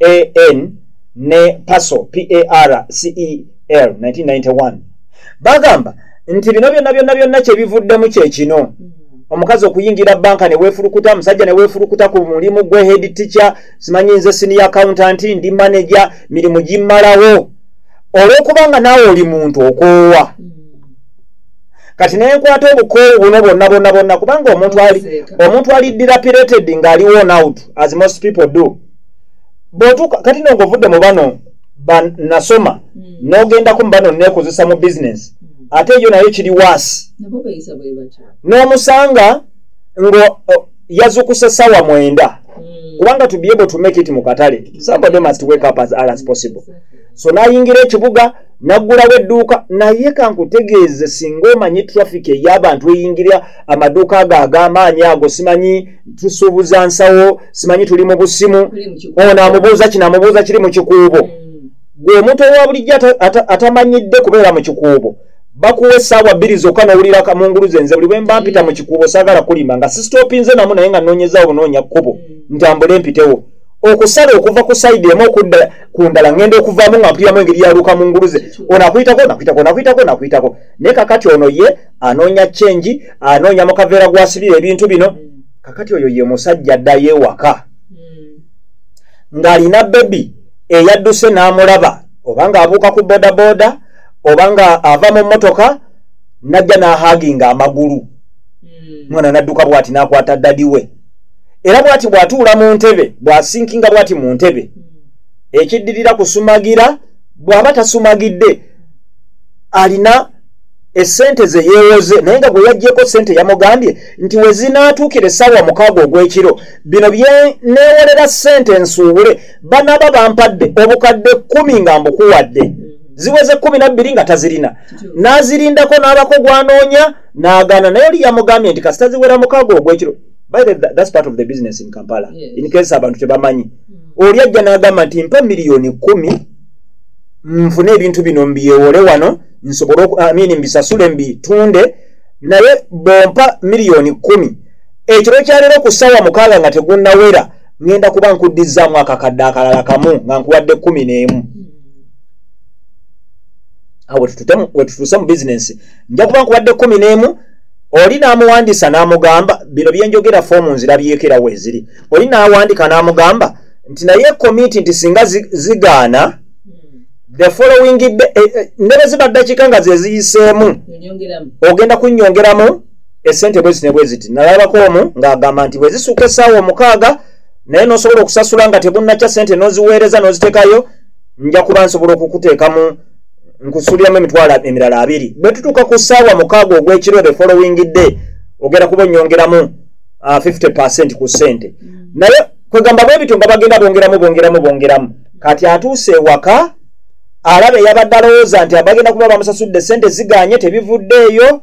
an ne paso par cel 1991 bagamba nti bino byonna byonna byonna kyebivuddemu kyekino mm. omukazi okuyingira banka newefulukuta musajja newefulukuta ku mulimu gwe head teacher simanyi nze siniya accountant ndi manager mirimu gimmalawo olwokubanga naawe oli muntu okoowa mm. kati nenkwata obukoowu buno bonna bonna bonna kubanga omuntu ali omuntu ali dilapilated nga ali one out as most people do botuka kati no ngovudde mu bano banasoma hmm. nogendaku mu bano nekozesa mu business hmm. ate yo naye kiri was n'omusanga ngo yazukuse sawa mwenda hmm. kubanga to be able to make it mu katale somebody must wake up as early as possible so nayingira ekibuga naggulawo edduuka naye kankutegeeze singa omanyi traffic ey'abantu eyingira amaduuka ago ag'amaanyi ago simanyi tusuubuza nsawo simanyi tuli mu busimu ono amubuuza kino amubuuza kiri mu kikuubo mm. gwe omuntu owa bulijjo atamanyidde kubeera mu kikuubo bakuwa essaawa bbiri zokka nowulira kamungulu zenze buli bwe mba mpita mu kikuubo saagala kulima nga sistopinze namu naye nga nnoonyezawo bunoonya kkubo mm. ntambule mpitewo okusala okuva ku side emu okudda ku ndala ngenda okuvaamu nga mpuliramu engeri yaluuka mu nguluze ono akuyitako nakuyitako nakuyitako nakuyitako naye kakati ono ye anoonya chengi anoonya mu kaveera gwasibira ebintu bino kakati oyo ye musajja addayo ewaka ng'alina bebi eyadduse n'amulaba oba ng'abuuka ku bodaboda oba nga ava mu mmotoka najja n'ahaaginga amagulu hmm. mwana nadduka bwati n'akwata dadi we mm. era bwati bw'atuula mu ntebe bw'asinkinga bwati mu ntebe ekiddirira kusumagira bw'aba tasumagidde alina esente ze yeewoze naye nga gwe yaggyeko sente yamugambye nti we zinaatuukira essaawa mukaaga ogw'ekiro bino bye neewolera sente nsuubule banaaba bampadde obukadde kkumi nga mbukuwadde ziweze kkumi na bbiri nga tazirina n'azirindako n'abako gwanoonya n'agaana naye oli yamugambye nti kasita ziwera mukaaga ogwekiro thats part of the business in kampala yes. in case abantu tebamanyi mm. oli ajja n'agamba nti mpa miliyoni kumi nfune ebintu bino mbyewole wano nsobole amin mbisasule mbitunde naye bompa miliyoni kumi ekiro kyaleero ku ssaawa mukaaga nga tegunnawera ŋenda kuba nkuddizzaamu akakadde akalala kamu nga nkuwadde kumi n'emu mm. awo wetutuuse mu bizinensi nja kuba nkubadde kumi n'emu oli n'amuwandiisa n'amugamba bino byenjogera foomu nzirabyeko era weeziri oli n'awandiika n'amugamba nti naye komiti nti singa zigaana the following day eh, eh, ne bwe ziba ddakiika nga ze ziyiseemu ogenda kunnyongeramu esente bwe zine bwe ziti nalabako omu ng'agamba nti bwe zisuuka essaawa omukaaga naye n'osobola okusasula nga tebunnakya sente n'oziweereza n'oziteekayo nja kuba nsobola okukuteekamu nkusuubiramu emitwalo emirala abiri bwe tutuuka ku ssaawa mukaaga ogw'ekiro the following day ogenda kuba onyongeramu 50 uh, percent ku ssente mm. naye kwegamba bwe bityo nga bagenda bongeramu bongeramu bongeramu kati atuuse ewaka alaba eyabadde alowooza nti abagenda kuba bamusasudde ssente ziganye tebivuddeeyo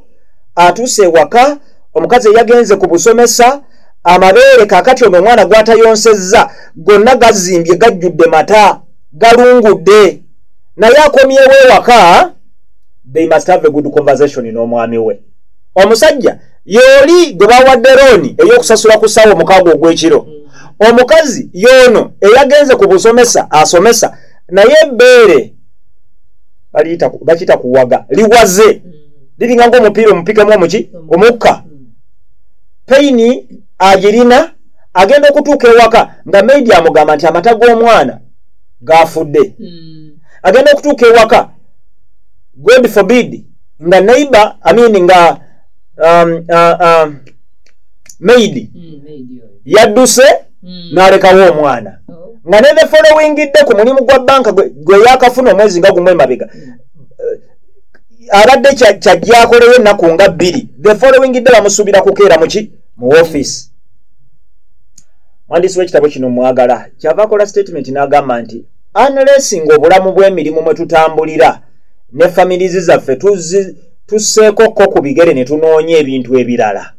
atuuse ewaka omukazi eyagenze ku busomesa amabeere kakati ono omwana gwatayonsezza gonna gazimbye gajjudde mata galungudde naye akomyewo ewaka they must have a good conversation n'omwami we omusajja yooli gwe bawadde looni ey'okusasula ku ssaawa omukaago ogw'ekiro omukazi yoono eyagenze ku busomesa asomesa naye ebbeere bakiyita kuwaga liwaze liringa ngaomupiira omupikemu omuki omukka payini agirina agenda okutuuka ewaka nga maidi amugamba nti amata g'omwana gaafudde hmm. agenda okutuuka ewaka god forbid nga neighbor i mean nga um, uh, uh, maid hmm, yadduse hmm. n'alekawo omwana oh. nga ne the following dde ku mulimu gwa banka gwe yakafuna omwezi nga gumu emabega abadde kyajjakoleyo ennaku nga bbiri the following dde bamusuubira kukeera muki mu office mwandiisi w'ekitabo kino mwagala kyava akola statement n'agamba nti anlesinga obulamu bw'emirimu mwe tutambulira ne familizi zaffe tusseeko ko ku bigere ne tunoonya ebintu ebirala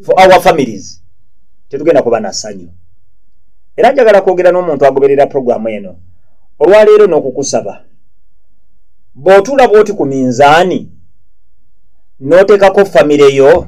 for our families tetugenda kuba na ssanyu era njagala kwogera n'omuntu agoberera puroguramu eno olwaleero n'okukusaba bw'otuula bw'oti ku minzaani n'oteekako famire yo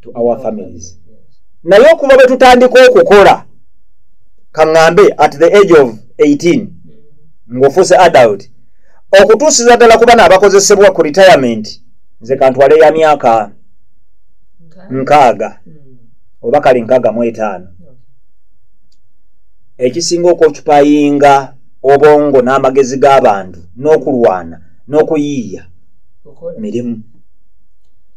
to our families naye okuva bwe tutandika okukola kaŋŋambe at the age of 18 ng'ofuuse adult okutuusiza ddala ku bana abakozesebwa ku retirement nze kantwale ya myaka nkaaga hmm. oba kale nkaaga mu etaano ekisinga okwokipayinga obwongo n'amagezi g'abantu n'okulwana n'okuyiiya mirimu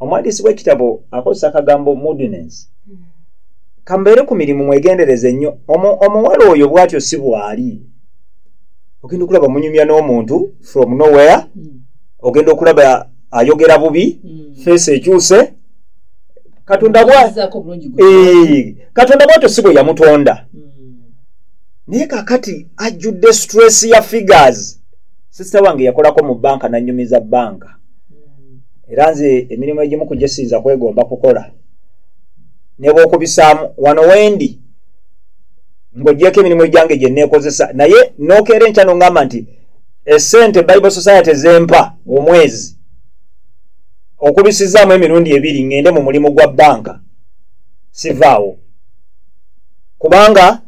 omuwandiisi w'ekitabo akozesa akagambo mudness kambeere ku mirimu mwegendereze nnyo omuwala oyo bwatyo si bwali ogenda okulaba munyumya n'omuntu from nowhere hmm. ogenda okulaba ayogera bubi hmm. feesi ekyuse katonda katonda bwatyo si bwe yamutonda hmm. naye kakati ajjudde stress ya figures sisita wange yakolako mu banka nanyumiza banka era nze emirimu egimu ku gyesiyinza kwegomba kukola nebwokubisaamu wano wendi ng'ogyeko emirimu egyange gye neekozesa naye nookeera enkya nongamba nti esente bible society zempa omwezi okubisizaamu emirundi ebiri ngende mu mulimu gwa banka sivaawo kubanga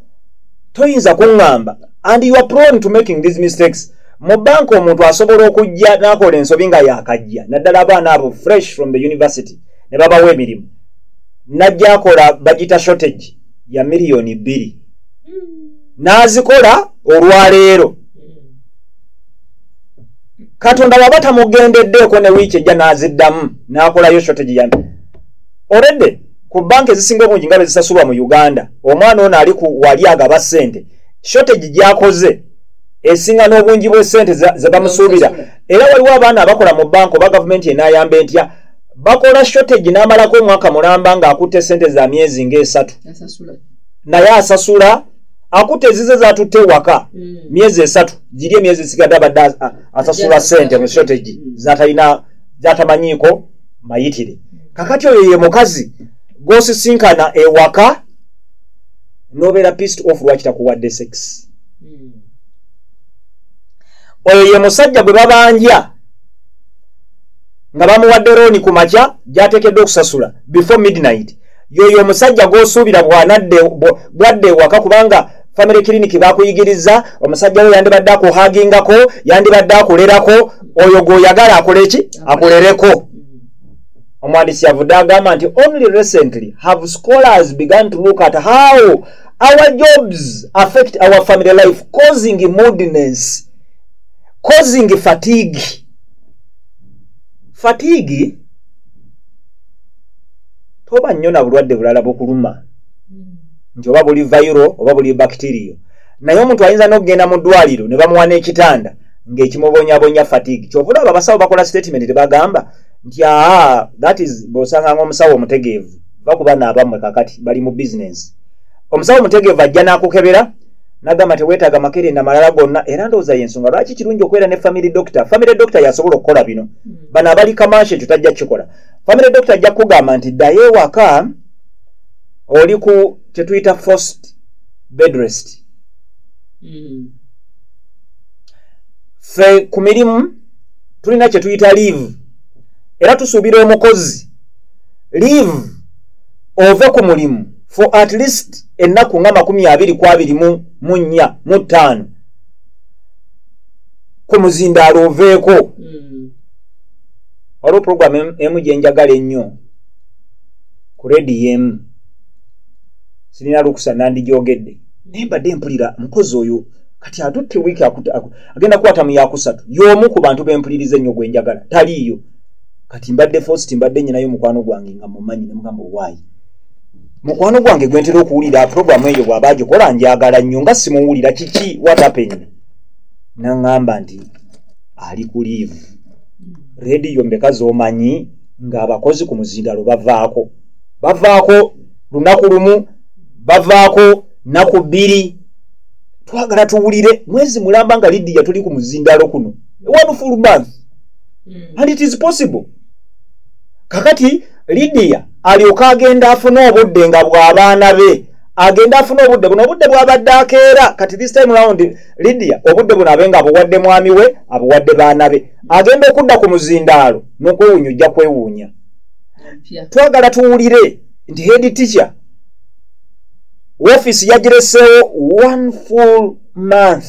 toyinza kuŋŋamba and you are prone to making these mistakes mu banka omuntu asobola okujja n'akola ensobi nga yakajja naddala abaana abo fresh from the university ne babawa emirimu najja akola bagita shortage ya miliyoni bbiri n'azikola olwaleero katonda waba tamugendeddeeko ne wiiki ejja n'aziddamu n'akolayo shortage ya oredde ku banka ezisinga obungi nga bezisasulwa mu uganda omwana ono ali ku wali agaba ssente shortage gyakoze esinga n'obungi bw'essente ze bamusuubira era waliwo abaana abakola mu banka oba gavumenti enaayamba entya bakola shortage n'amalako omwaka mulamba ng'akutte ssente za myezi ng'esatu naye asasula akutte ezize zatutte ewaka hmm. myezi esatu giri emyezi esigadde abadde asasula ssente mu shortage hmm. zatalina zatamanyiiko mayitire kakati oyo ye mukazi gwosisinkana ewaka nobeera pist of lwaki takuwadde sex oyo ye musajja gwe babanja nga bamuwadde rooni ku makya gyateekeddwa okusasula before midnight yoyo omusajja gwosuubira bwadde ewaka kubanga family clinic bakuyigiriza omusajja we yandibadde akuhagingako yandibadde akulerako oyo gwoyagala akole ki akulereko omwandisi yavudde agamba nti only recently have scholars began to look at how our jobs affect our family life causing moodiness causing fatigue fatigue toba nnyo na bulwadde bulala bukuluma nti oba buli vayiro oba buli bakitiriyo naye omuntu ayinza n'okugenda mu ddwaliro ne bamuwa n'ekitanda ng'ekimubonyabonya fatigue kyova olaba abasawo bakola statement tebagamba nti aa that is bw'osanga ng'omusawo omutegeevu bakuba naabamwe kakati bali mu bizinensi omusawo mutegeevu ajja n'akukebera nagamba tewetaaga makerenda malala gonna era ndowooza yensonga lwaki kirungi okubeera ne family doctor family doctor yasobola okukola bino hmm. bano abali kamansi ekyo tajja kukikola family doctor ajja kukugamba nti ddayo ewaka oli ku kyetuyita first bedrest hmm. fe ku mirimu tulina kyetuyita leave era tusuubira omukozi leave ove ku mulimu for at least ennaku nga makumi abiri ku abiri mu nnya mu ttaano ku muzindaalo oveeko hmm. waliwo puroguramu emu gye njagala ennyo ku rediyo emu sirina lukusa nandigyogedde naye mbadde mpulira mukozi oyo kati atutte wiiki agenda kukwata mu yakusatu y'omu ku bantu bempuliriza ennyo gwe njagala taliiyo kati mbadde fosi timbadde nyinayo mukwano gwange nga mumanyi nemugamba owaayi mukwano gwange gwentera okuwulira puroguramu eyo bwaba agikola njagala nnyo nga simuwulira kiki watapeni naŋŋamba nti ali ku liivu rediyo mbeka z'omanyi ng'abakozi ku muzindalo bavaako bavaako lunaku lumu bavaako naku bbiri twagala tuwulire mwezi mulamba nga lidiya tuli ku muzindalo kuno one full month hmm. and it is possible kakati lidiya alyoke agenda afune obudde nga bw'abaana be agenda afune obudde buno obudde bwabadde akeera kati this time round lidiya obudde buno abe nga abuwadde mwami we abuwadde baana be agenda okudda ku muzindaalo n'okwewunya ojja kwewuunya twagala tuwulire nti head teacher wofiisi yagireseewo one full month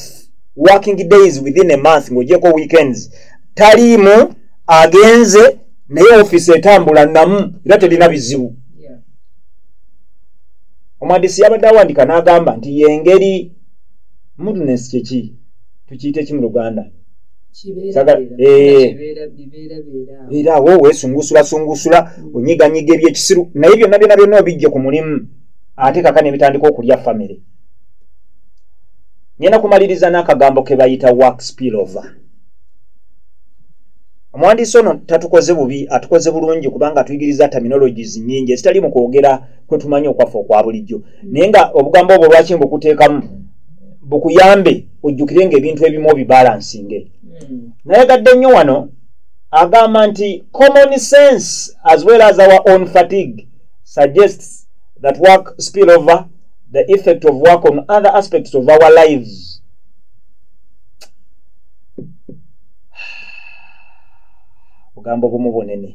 working days within a month ng'ogyeko weekends taliimu agenze naye ofiisi etambula namu era terina bizibu omuhandisi yabadde awandika n'agamba nti yengeri mudnes kyeki tukiyita eki mu luganda era awo wesungusulasungusula mm. onyiganyiga ebyekisiru naye byonna byona byonna obijje ku mulimu ate kaka nebitandika okulya famire ngenda kumaliriza n'akagambo ke bayita wax pillover omuwandiisi ono tatukoze bubi atukoze bulungi kubanga atuyigiriza terminologies nyingi ezitali mu kwogera kwe tumanyi okwaffe okwa bulijjo naye nga obugambo obwo lwaki mbukuteekamu bukuyambe ojjukire nga ebintu ebimu obibalansinge hmm. nayagadde nnyo wano agamba nti common sense as well as our own fatigue suggests that work spill over the effect of work on other aspects of our lives ogamba obumu bunene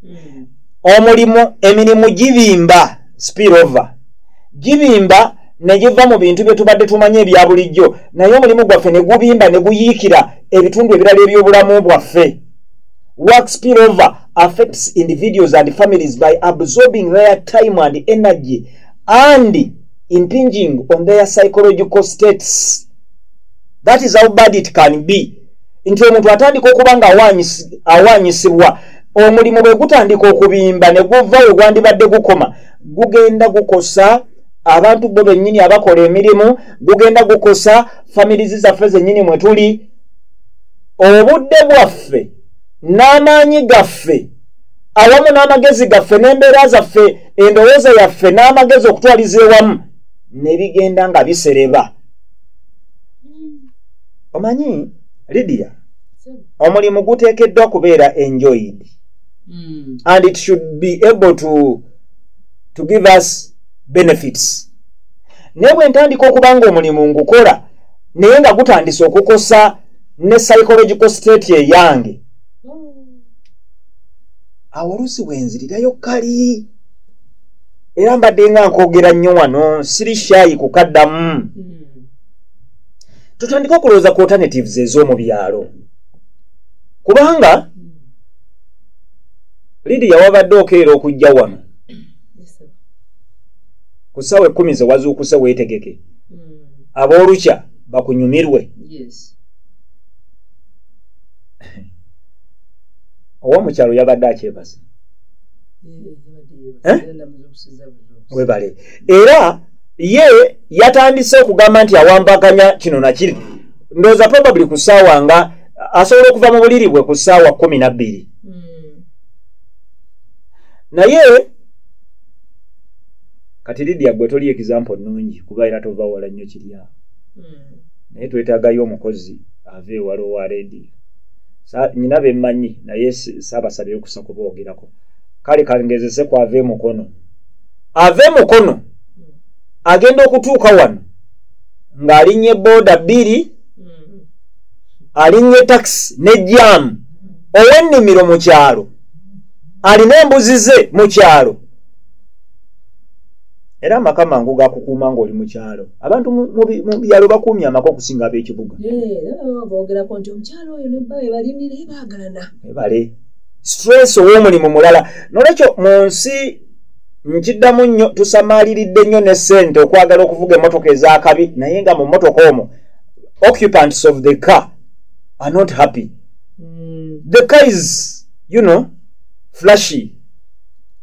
hmm. omulimu emirimu gibimba spirova gibimba negiva mu bintu bye tubadde tumanyi ebya bulijjo naye omulimu gwaffe ne gubimba ne guyiikira ebitundu ebirala eby'obulamu bwaffe work spirova affects individuals and families by absorbing their time and energy and impinging on their psychological states that is how bad it can be nti omuntu atandika okuba nga awaanyisibwa omulimu bwe gutandika okubimba ne guva we gwandibadde gukoma gugenda gukosa abantu bo bennyini abakola emirimu gugenda gukosa famirizi zaffe zennyini mwe tuli obudde bwaffe n'amaanyi gaffe awamu n'amagezi gaffe n'embeera zaffe endowooza yaffe n'amagezi okutwaliza ewamu ne bigenda nga bisereba omanyi lidia omulimu guteekeddwa kubeera enjoyed mm. and it should be able to, to give us benefits naye bwe ntandika okuba nga omulimu ngukola naye nga gutandise okukosa ne psychological state eyange mm. awo oluusi bwe nzirirayo kali era mbadde nga nkwogera nnyo wano siri shayi kukaddamu tutandike okulowooza ku alternatives ez'omu byalo kubanga lidiya wabadde okeera okujja wano ku ssaawa ekkumi ze wazuukuse weetegeke hmm. ab'olukya bakunyumirwe owomukyalo yabadde akyebase eh? webale era ye yatandise okugamba nti awambaganya kino nakiri ndooza probably ku ssaawa nga asobola okuva mu buliri bwe ku ssaawa kumi na bbiri hmm. naye kati lidia gwe toli example nungi kuba era tova wala nnyo kiryawo hmm. naye twetagayo omukozi ava ewala owa rediyo nyina bemanyi naye sabasabye okusa kubogerako kale kangezese ku ave mukono ave mukono agenda okutuuka wano ng'alinye booda bbiri mm. alinye takisi ne jaamu ow'ennimiro mu kyalo alina embuzi ze mu kyalo era amaka mangu gakukuuma ng'oli mu kyalo abantu mu byalo bakuumye amaka okusinga ab'ekibuga ebale stress ow'omulimu mulala nolwekyo mu nsi nkiddamu nnyo tusamaliridde nnyo ne ssente okwagala okuvuga emmotoka ez'akabi naye nga mu mmotoka omwo occupants of the car are not happy mm. the car is you know flashy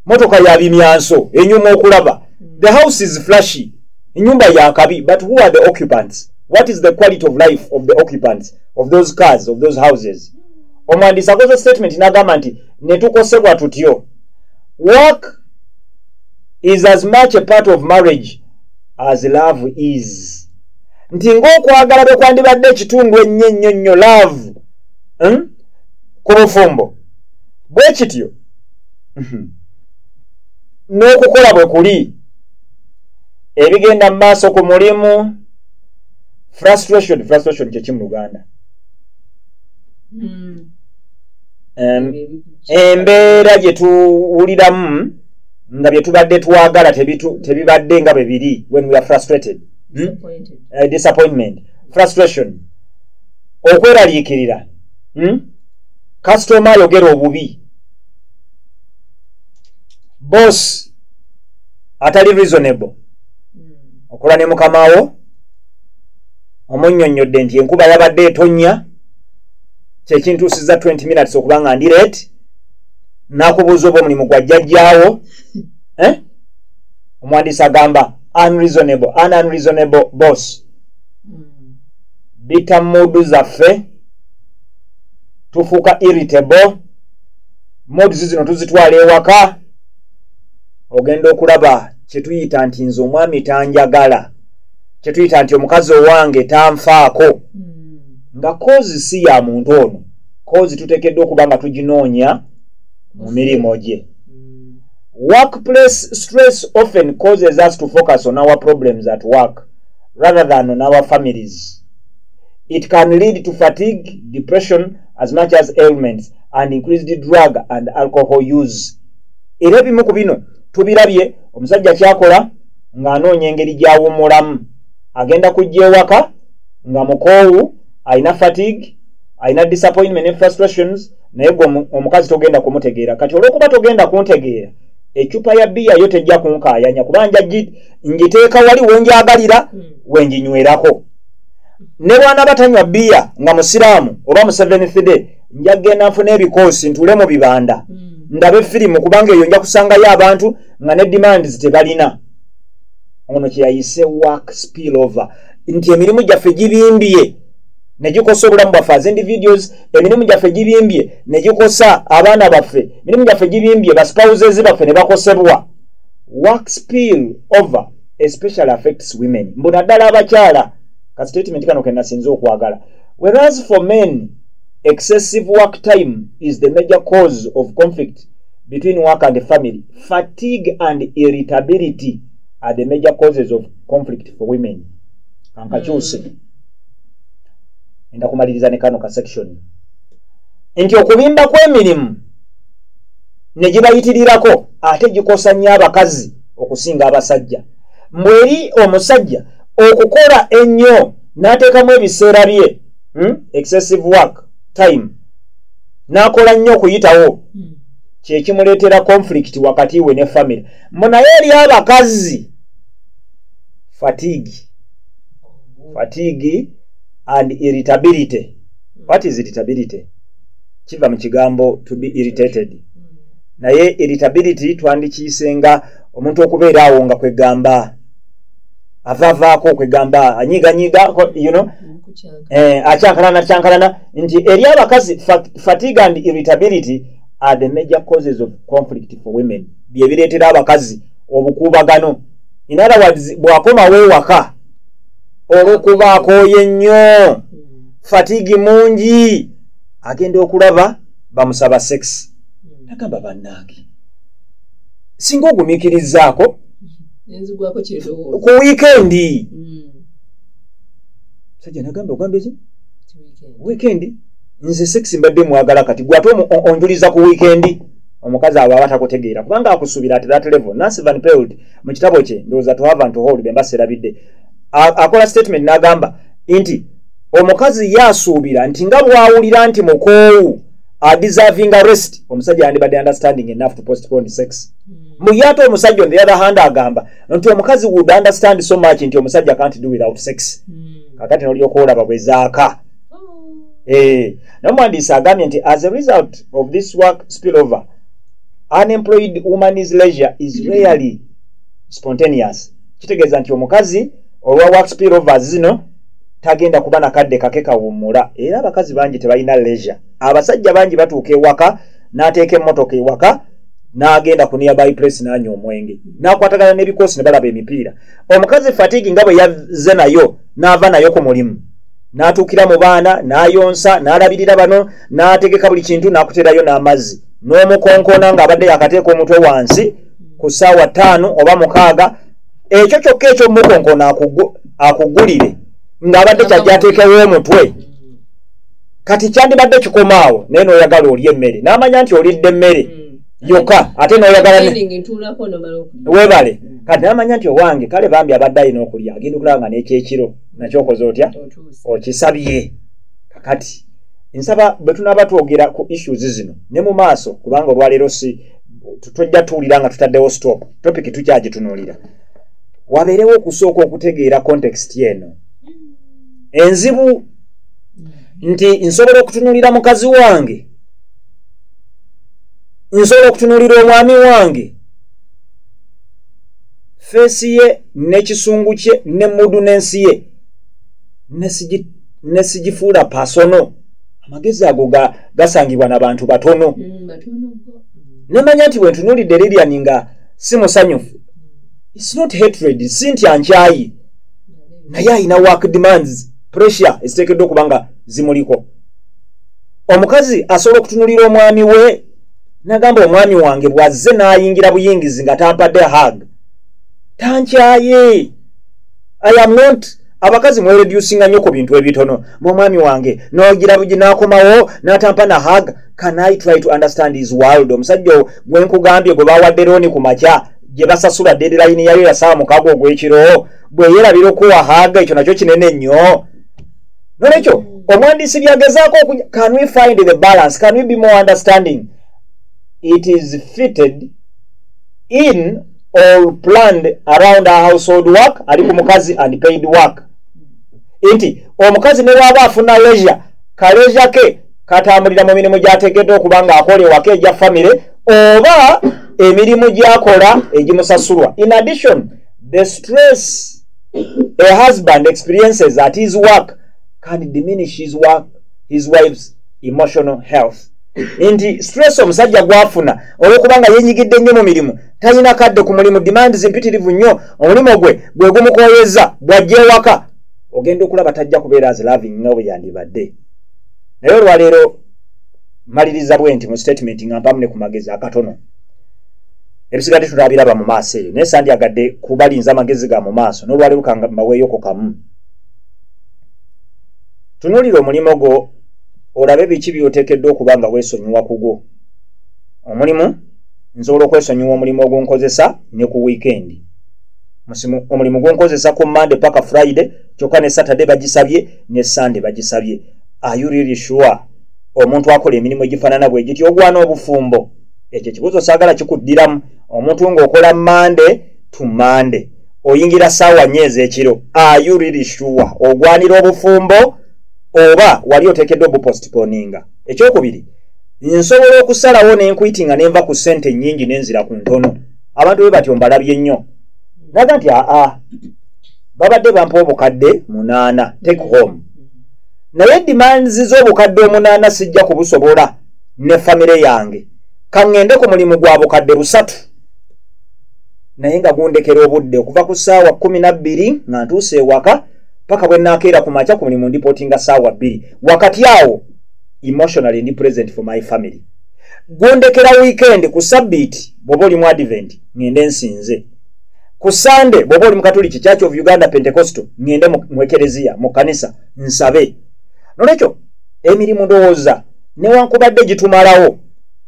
motoka ya bimyanso enyuma okulaba the house is flashy enyumba ya kabi but who are the occupants what is the quality of life of the occupants of those cars of those houses omwandisi akoze statement nagamba nti netukosebwa tutyo work is as much a part of marriage as love is nti ngaokwagala bwe kwandibadde ekitundu ennyo ennyo nnyo laavu hmm? ku bufumbo bwe kityo mhm, n'okukola bwe kuli ebigenda mu maaso ku mulimu frustration frustration kyeki mu luganda mm. embeera gye tuwuliramu nga bye tubadde twagala tebibadde nga bwe biri when we are frustrated hmm? uh, disappointment frustration okweraliikirira hmm? kasitoma ayogera obubi bos atali reasonable hmm. okola ne mukamawo omunyonyodde nti enkuba yabadde etonya kyekintuusiza 20 minutes okuba nga ndi ret nakubuuza oba omulimu gwa jjajjaawo eh? omuwandiisi agamba unreasonable an unreasonable boss hmm. bita muudu zaffe tufuuka irritable moods zino tuzitwala ewaka ogenda okulaba kyetuyita nti nze omwami tanjagala kyetuyita nti omukazi owange tanfaako hmm. nga kozi si ya muntu ono kozi tutekeddwa okuba nga tuginoonya mu mirimu gye hmm. workplace stress often causes us to focus on our problems at work rather than on our families It can lead to fatigue, depression, as much as ailments, and increased drug and alcohol use. Era ebimu ku bino tubirabye omusajja kyakola ng'anoonya engeri gy'awummulamu. Agenda kujja ewaka nga mukoowu, alina fatigue, alina disappointment ne frustrations, naye gwe omukazi togenda kumutegeera. Kati olw'okuba togenda kuntegeera, ecupa ya bbiya yo tejja kunkaayanya kuba njiteeka wali we njagalira hmm. we njinywerako. ne bwana batanywa biya nga musiraamu oba museven thide nja kugenda nfuna ebikoosi ntuule mu bibanda mm. ndabe firimu kubanga eyo nja kusangayo abantu nga ne demands tebalina ono kyeyayise work spill over nti emirimu gyaffe gibimbye negikosa obulamu bwaffe as individuals emirimu gyaffe gibimbye negikosa abaana baffe emirimu gyaffe gibimbye baspouses baffe ne bakosebwa work spill over especially affects women mbu naddala abakyala ka statement kano kenasinze okwagala whereas for men excessive work time is the major cause of conflict between work and family fatigue and irritability are the major causes of conflict for women kankakyuse mm. enda kumaliriza ne kano ka section nti okubimba kw'emirimu ne gibayitirirako ate gikosa nnyo abakazi okusinga abasajja mbu eri omusajja okukola ennyo n'ateekamu ebiseera bye hmm? excessive work time n'akola nnyo okuyitawo hmm. kyekimuleetera conflict wakati we ne famire mbu naye eri abakazi fatigue oh. fatigue and irritability what is irritability kiva mu kigambo to be irritated naye irritability twandikiyise nga omuntu okubeera awo nga kwegamba avavaako kwegamba anyiganyiga you know? eh, akyankalana kyankalana nti eri abakazi fatigue and irritability are the major causes of conflict for women byebireetera abakazi obukuubagano in other words bwakomawo ewaka olwokuba akooye nnyo hmm. fatigue mungi agenda okulaba bamusaba sex hmm. nagamba bannange singa ogumikirizaako ku wiikendi hmm. sajja nagamba ogambye ki wiikendi nze sex mbadde mwagala kati gwe ate onjuliza ku wiikendi omukazi abo aba takutegeera kubanga akusuubira ati that level nancy van peld mu kitabo kye ndowooza to have and to hold bemba serabidde akola statement n'agamba nti omukazi ye asuubira nti nga bwawulira nti mukoowu adeservinga rest omusajja yandibadde understanding enough to postpone sex hmm. muye ate omusajja on the other hand agamba nti omukazi would understand so much nti omusajja can't do without sex hmm. kakati nolyoka olaba bwezaaka hmm. eh, nomuwandiisi agambye nti as a result of this work spill over unemployed woman's leisure is rarely spontaneous kitegeeza nti omukazi olwa waxpy rovers zino tagenda kuba nakadde kake kawummula era abakazi bangi tebalina leisure abasajja bangi batuuka ewaka n'ateeka emmotoka ewaka n'agenda ku nearby place n'anywa omwenge n'akwatagana n'ebikoosi ne balaba emipiira omukazi fatigi nga bwe yazze nayo n'ava nayo ku mulimu n'atuukira mu baana n'ayonsa n'alabirira bano n'ategeka buli kintu n'akuteerayo n'amazzi n'omukonkoona ng'abadde yakateeka omutwe wansi ku ssaawa ttaano oba mukaaga ekyo kyokka ekyomukonkono akugulire ng'abadde kyajja ateekewo omutwe kati kyandibadde kikomaawo naye n'oyagala olya emmere n'amanya nti olidde emmere mm. yokka ate n'oyagala webale kati n'amanya nti owange kale bambi abadde alina okulya agenda okulaba nga n'ekyekiro nakyokoze otya okisabye kakati nsaba bwe tunaaba twogera ku issues zino ne mu maaso kubanga olwaleero si tojja tuwulira nga tutaddewo stop topic tukyagitunulira wabeerewo okusooka okutegeera context eno enzibu nti nsobola okutunulira mukazi wange nsobola okutunulira omwami wange feesi ye n'ekisungu kye ne mudu n'ensi ye nesigifuula pasono amagezi ago ga gasangibwa na bantu batono mm, nemanya nti wentunulidde lilian nga si musanyufu its not hatred si nti ankyayi naye alina work demands pressure eziteekeddwa okuba nga zimuliko omukazi asobola okutunulira omwami we nagamba omwami wange bwazze n'ayingira buyingizi nga tampadde hag tankyaye i am not abakazi mweredusinga nnyo ku bintu ebitono mwomwami wange nogira bugi nakomawo natampa na hag can i try to understand his world omusajja owo gwe nkugambye gwe bawadde looni ku makya gye basasula dedilayini yayo yasaa mukago ogw'ekiro bwe yeerabira okuwa haga ekyo nakyo kinene nnyo nolwekyo omwandiisi byagezaako oku can we find the balance can we be more understanding it is fitted in or planned around her household work ali ku mukazi and paid work nti omukazi ne bwaba afuna leisure kaleisure ke katambulira mu mirimu gyategedde okuba nga akola ewaka egya famire oba emirimu gyakola egimusasulwa in addition the stress a husband experiences at his work can diminish his work his wife's emotional health nti stress omusajja gwafuna olwokuba nga yenyigidde nnyo mu mirimu talina kadde ku mulimu demands mpitirivu nnyo omulimu gwe gwe gumukoyeza bwajja ewaka ogenda okulaba tajja kubeera as loving nga bwe yandibadde naye olwaleero maliriza bwe nti mu statement nga mpamu ne ku magezi akatono ebisigadde tutabiraba mu maaso eyo naye sandyagadde kubalinza amagezi ga mu maaso n'olwaleero kanga mbaweeyoko kamu tunuulira omulimu gwo olabe biki byoteekeddwa okuba nga weesonyiwa kugwo omulimu nsobola okwesonyiwa omulimu ogunkozesa ne ku wiikendi omulimu gunkozesa ku monday paka friday kyokka ne saturday bagisabye ne sunday bagisabye ayuriri sure omuntu akola emirimu egifaanana bwe giti ogwana obufumbo ekyo ekibuuzo saagala kikuddiramu omuntu ng'okola monday to monday oyingira saawa nyo ez'ekiro ayuriri sure ogwanira obufumbo oba wali oteekeddwa obupostponinga ekyokubiri nsobola okusalawo nenkuyiti nga nenva ku sente nyingi nenzira ku ntono abantu be batyo mbalabye nnyo naga nti aa babadde bampa obukadde munaana take home naye demands z'obukadde omunaana sijja kubusobola ne famire yange kaŋŋende ku mulimu gwa bukadde busatu naye nga gundekera obudde okuva ku ssaawa kumi na bbiri nga ntuuse ewaka paka bwe nakeera ku makya ku mulimu ndipotinga saawa bbiri wakati awo emotionally ndi present for my family gwondekera weekend ku sabbiiti bwoba oli mu advent ngende nsinze ku sande bwoba oli mukatuliki church of uganda pentecostal ngende mu ekereziya mu kanisa nsabe nolwekyo emirimu ndowooza newankubadde gitumalawo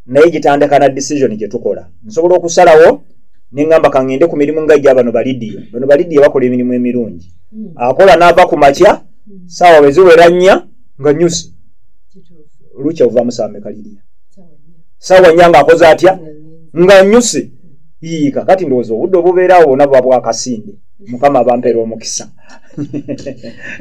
naye gitandika na decision gye tukola nsobola okusalawo nengamba kangende ku mirimu nga gya bano balidiya bano balidiya bakola emirimu emirungi hmm. akola naava ku makya hmm. saawa bweziwera nnya nga nyusi lukya ovamu saameka lidiya saawa nnya nga akoze atya nga nyusi yiika kati ndowooza obudde obubeerawo bona buba bwakasinde mukama abampera omukisa